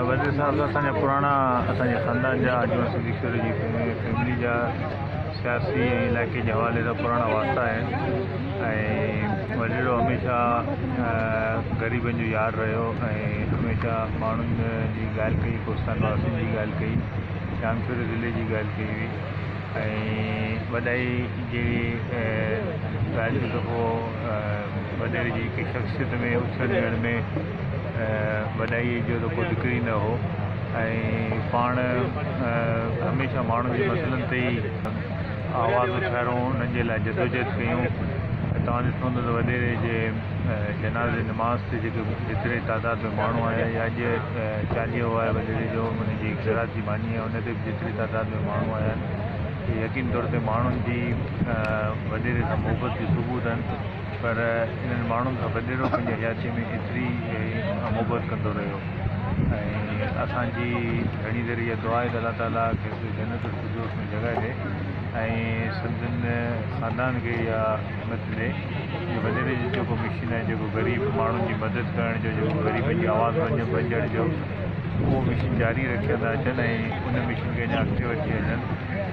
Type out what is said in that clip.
وزير صاحب سان اسان جا پراڻا اسان جي خاندان جا آجوان صديقشوري جي فيملي جا سياسي ۽ علائقي جي حوالي سان پراڻا واسطا آهن ۽ وزير هميشه غريبن جو يار رهيو ۽ هميشه ماڻهن جي ڳالهه ڪئي ڪوستان واسين جي ڳالهه ڪئي شامشوري ضلعي جي ڳالهه ڪئي هئي ۽ وڏائي جي ڳالهه جو دفعو وڏيري جي هڪ شخصيت ۾ اٿڻ ويهڻ ۾ وڏائيء جو ته ڪو ذڪر ئي نه هو ۽ پاڻ هميشه ماڻهن جي مسئلن تي ئي آواز اٿاريون، انهن جي لاء جدوجهد ڪيون. توهان ڏٺو هوندو ته وڏيري جي جنازي نماز تي جيڪي جيتري تعداد ۾ ماڻهو آيا يا اڄ چاليهو آهي وڏيري جو ان جي خيرات جي ماني آهي ان تي به جيتري تعداد ۾ ماڻهو آيا آهن اهي يقيني طور تي ماڻهن جي وڏيري سان محبت جو ثبوت آهن. پر انهن ماڻهن سان وڏيرو پنهنجي حياتيء ۾ ايتري محبت ڪندو رهيو ۽ اسان جي گهڻي دير اها دعا آهي ته الله تعاليٰ کيس جنت الفردوس ۾ جڳهه ڏي ۽ سندن خاندان کي اها همت ڏي جو وڏيري جو جيڪو مشن آهي جيڪو غريب ماڻهن جي مدد ڪرڻ جو جيڪو غريبن جي آواز بنجڻ جو اهو مشن جاري رکيندا اچن ۽ ان مشن کي اڃا اڳتي وٺي هلن